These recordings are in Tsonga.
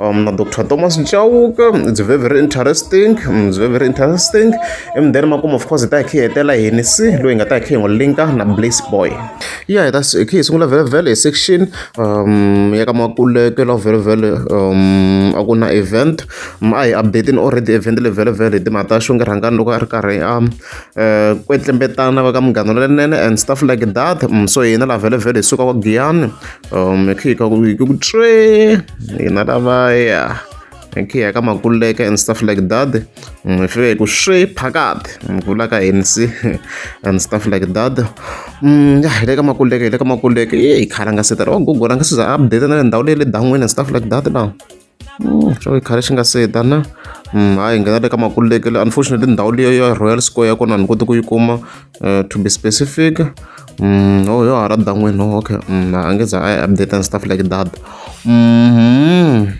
um, na dr thomas nchauka it's very very interesting mm, it's very very interesting and then makumu of course hi ta hi khe hi hetela hi ni si loyi hi nga ta hi khe hi n'wi linka na blace boy yeah hi ta hi khe hi sungula very very hi section um ya ka makuleke la very very um a ku na event mm, a hi updating already event le very very hi timhaka ta xonge rhangani loko a ri karhi a um, eh, kwetlembetana va ka munghano lenene and stuff like that mm, so hina la very very hi suka wa giyani um hi kha ku hi ku tswee hina lavaya hi kha hi ya ka makuleka and stuff like that um hi fike hi ku swi phakati mvula ka hini si and stuff like that um ya hi le ka makuleka hi le ka makuleka ye hi khala nga se tala wa gogora nga se za a update na le ndhawu leyi le dan'wini and stuff like that na xo yi khale xi nga se heta na hayi hi nghena le ka makululekele unfortunately ndhawu leyo ya royal square ya kona ni koti ku yi kuma eh, to be specific Mm, oh, yo hara dan'wini no okay mm, a nge za i update and stuff like that mm-hmm.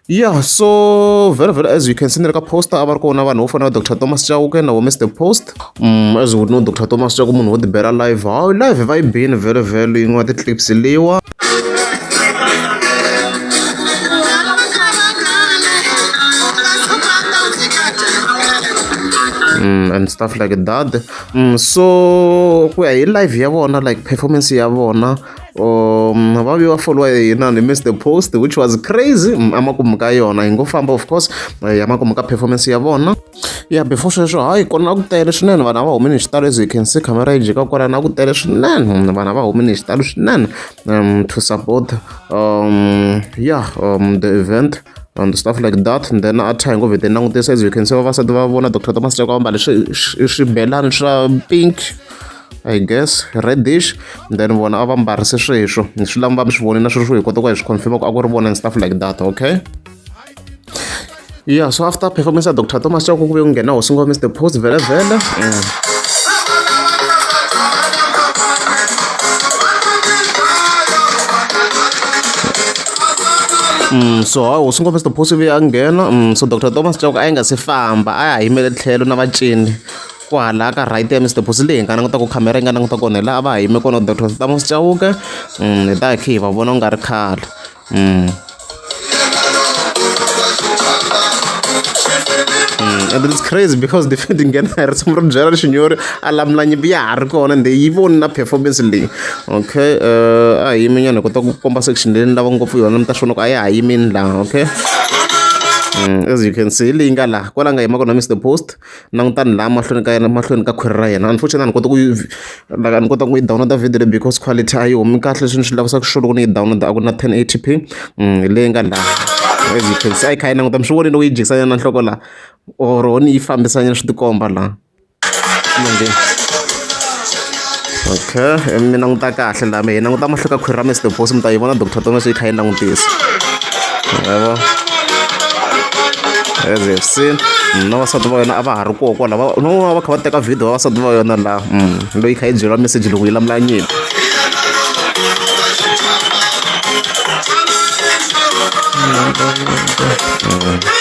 yeah so very very as you can see ni ri ka poster a va ri kona vanhu vo fana va dr thomas chauke na wo mr post as we know doctor Thomas swa ku munhu wo ti bela live hawu live va yi bini vhele vhele yin'we ya ti-clips leyiwa mm, and stuff like that mm, so ku ya hi live ya vona like performance ya vona um va vi va foliwa hi hina ni miss the post which was crazy mm, emakumu ka yona yi ngo famba of course eh, ya makumu ka performance ya vona Ya before sweswo hayi kona a ku tele swinene vanhu a va humi ni xitalo as you can see camera yi jika kwalano a ku tele swinene vanhu a va humi ni xitalo swinene to support ya the event and stuff like that and then a thangi vhete langutisa as you can see vavasati va vona doctor thomas cheka va mbale swibelani swa pink I guess reddish then vona a va mbarise sweswo swi lama va mi swi vonile na sweswo hi kota ku hi swi confirm ku a ku ri vona and stuff like that okay. yeah so after performance ya dr thomas chako kuve ku nghena hosi ngomisa the post vhele vhele mm. Mm, so ha hosi ngomisa the post ve a nghena mm, so dr thomas chako a yi nga si famba a ya yimele tlhelo na vacini kwala ka right ya mr boss leyi nga languta ku khamera yi nga languta kona hi laha va ha yime kona dr thomas chauke mm, hi ta hi khe hi va vona ku nga ri khale Mm. Mm, and it's crazy because defending Ghana ri tshama ri byela xinyori a lamula nyimpi ya ha ri kona ende yi voni na performance leyi okay uh, a hi yimi nyana hi kota ku komba section leyi ni lava ngopfu yona mi ta xona ku a ya ha yimini laha okay mm, as you can see leyi nga laha kwala nga yima kona mr post languta ni laha mahlweni ka yena mahlweni ka khwiri ra yena unfortunately a ni kota ku yi like a ni kota ku yi download video leyi because quality a yi homi kahle leswi ni swi lavisaka swona loko ni yi download a ku na 1080p mm, leyi nga laha as you can see a yi kha yi languta mi swi vonile ku yi jikisanyana na nhloko laha or ho ni yi fambisanyana swi tikomba laha okay mi languta kahle lami hi languta mahloko ka khwiri ra mr boss mi ta yi vona doctor tomeso yi kha yi langutisa yavo as you have seen mm, na vasati va yona a va ha ri koho kwala no va kha va teka video va vasati va yona laha mm, loyi kha yi byeriwa message loko yi lamula nyimpi mm.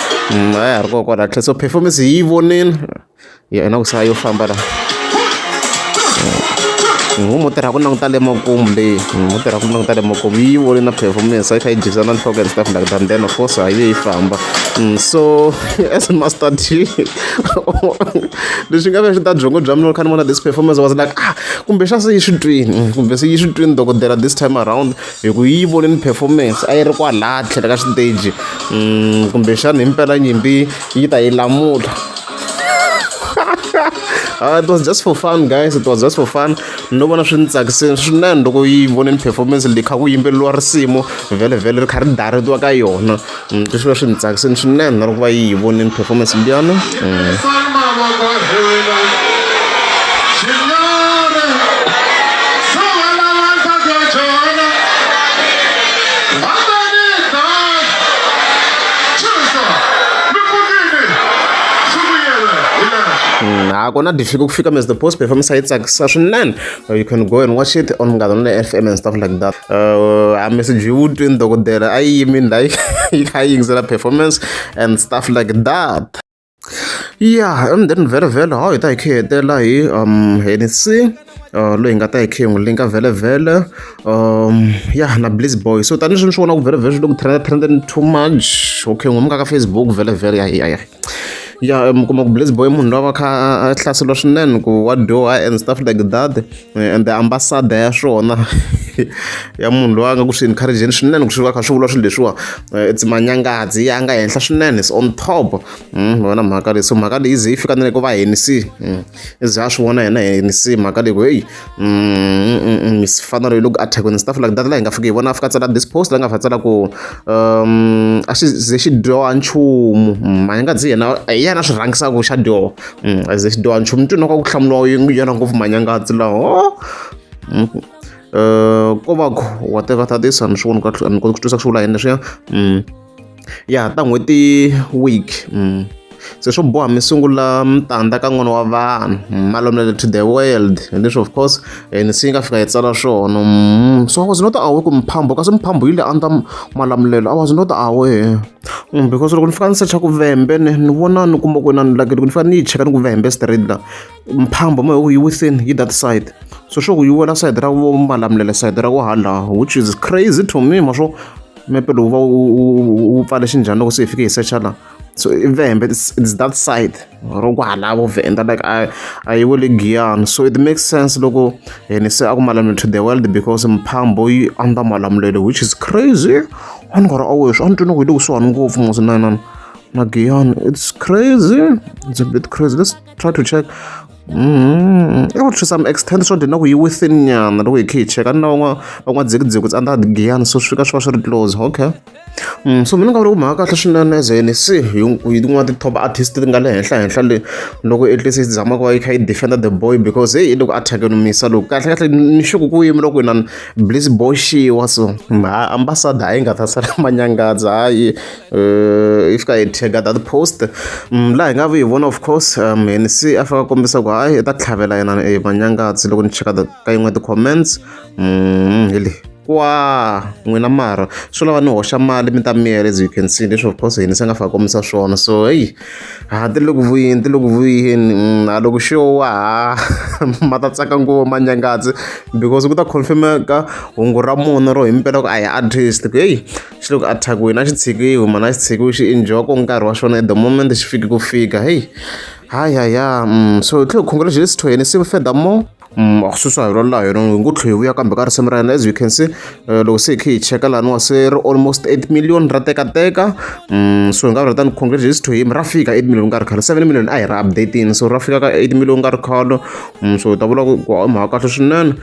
Mm, a ya ha ri koho kwala tlhe so performance hi yi vonile yo ena ku sala yo famba la mm. ngu mo tirha ku languta le makumu leyi mm, mo tirha ku languta le makumu yi vone na performance a yi kha yi jikisa na nhloko and stuff like that then of course a yi ve yi famba so as master t leswi nga ve swi ta byongo bya mina loko kha ni vona this performance was like ah kumbe xa se yi swi twini kumbe se yi swi twini dokodela this time around hi ku yi vonini performance a yi ri kwalaya tlhela ka xiteji mm, kumbexana hi mpela nyimpi yi ta yi lamula Uh, it was just for fun guys it was just for fun no vona swi ni tsakisini swinene loko yi voneni performance leyi kha ku yimbeleriwa risimu vhele vhele ri kha ri daretiwa ka yona Mm, leswi va swi ni tsakiseni swinene na loko va yi yi vonini performance liyana mm. mm, ha kona difika ku fika mas the post performance a yi tsakisa swinene Uh, you can go and watch it on Gadon FM and stuff like that. Uh, I message you doing the good I mean like high extra performance and stuff like that. Yeah, and then very well how it I care there like um anything. Uh, loyi hi nga ta hi khe hi n'wi linka vhelevhele um ya na bliss boy so tanihileswi ni swi vona ku vhelevhele swi le ku trenda trendeni too much okay n'wi muka ka facebook vhelevhele ya ya ya ya mi kuma ku blaze boy munhu loyi a va kha a hlaseriwa swinene ku wa dyoha and stuff like that eh, and the ambassador ya swona ya munhu loyi a nga ku swi encourageni swinene ku swi va kha swi vula swilo leswiwa eh, it's manyangadzi ya nga henhla swinene is on top mm, vona mhaka leyi so mhaka leyi ze yi fika na le ku va henisi mm, ize a swi vona yena henisi mhaka leyi ku heyi mm, mm, mm, mifanelo yi loko athekweni ndzi ta fula data leyi hi nga fiki hi vona fika tsala this post leyi nga fa tsala ku um a xi ze xi dyoha nchumu ma yi nga dzi yena hi yena swi rhangisa ku xa dyoha a ze xi dyoha nchumu ntwini wa ka ku hlamuriwa yona ngopfu manyangatsi laho ko va ku whatever that is a ni swi voni ka ni koti ku twisisa ku swi vula yini leswiya ya ta n'hweti week se swo boha mi sungula mutanda ka n'wana wa vanhu malomele to the world and leswi of course eh, ni se yi nga fika yi tsala swona mm, so i was not aware ku mphambo kasi mphambo yi le under malamulelo i was not aware mm, because loko ni fika ni secha ku vembe ni ni vona ni kuma ku na ni laki loko ni fika ni yi cheka ni ku vembe straight la mphambo ma yi within yi that side so swo ku yi wela side ra vo malamulele side ra ku hala which is crazy to me ma swo mepe lowu va wu pfale xinjhani loko se hi fike hi secha la so i vhembe its that side ro ku halavo vhenda like a a yi wele giyani so it makes sense loko yena se a ku malamula to the world because mphambo yi andza malamulelo which is crazy a ni nga ri aweswi a ni twi ni ku hi le kusuhani ngopfu musi na yinana na giyani it's crazy it's a bit crazy let's try to check Mm-hmm. I would to some extent swo dina ku yi within nyana loko hi khe hi cheka ni lavan'wa van'wa dzikidzi ku tsandza giyana so swi fika swi va swi ri close okay mm, so mina nga vula ku mhaka kahle swinene as an se hi tin'wana ti-top artist ti nga le henhla henhla le loko at least yi zama ku va yi kha yi defenda the boy because heyi loko a thakenomisa loko kahle kahle ni xuku ku yimi loko inani bliss boy xiwa so mha ambasada a yi nga ta sala manyangadza hayi Uh, yi fika yi tag that post mm, laha hi nga vi hi vona of course um and se a fika kombisa ku hayi i ta tlhavela yena e manyangatsi loko ni cheka ka yin'we ti-comments mm, hi leyi kwa n'wina mara swi lava ni hoxa mali mi ta miyela as you can see leswi of course hini se nga fika kombisa swona so heyi ha ti le ku vuyeni ti le ku vuyeni mm, a loko xo wa ha ma ta tsaka ngopfu manyangatsi because ku ta confirmeka hungu ra mona ro himpela ku a hi artist ku heyi xi loko a thakiwini a xi tshikiwi mhana a xi tshikiwi xi enjoy ko nkarhi wa xona at the moment xi fiki ku fika heyi hayi hayi ya mm, so tlhe congratulations to yena sive furthermore Mm, akususa hi rolayo yona hi ngo tlhe hi vuya kambe ka risimu ra yena as you can see eh, loko se hi khe hi cheka laniwa se ri almost 8 million ra tekateka mm, so hi nga vula tani congratulations to him ra fika 8 million ka ri khalo 7 million a hi ra updating so ra fika ka 8 million ka ri khalo mm, so hi ta vula ku ku hi mhaka kahle swinene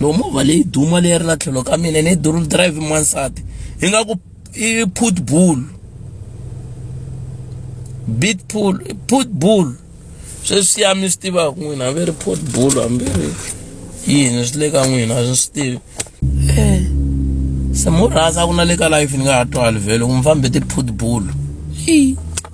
no movha leyi duma leyi ri la tlhelo ka mina ni dual drive n'wansati yi nga ku i put bull bit pool put bull sweswi ya mi swi tivaka n'wina hambi ri put bull hambi ri yini swi le ka n'wina a swi swi tivi eh, se murhasa ku na le ka life ni nga ha twali vhele ku mi fambe ti-put bull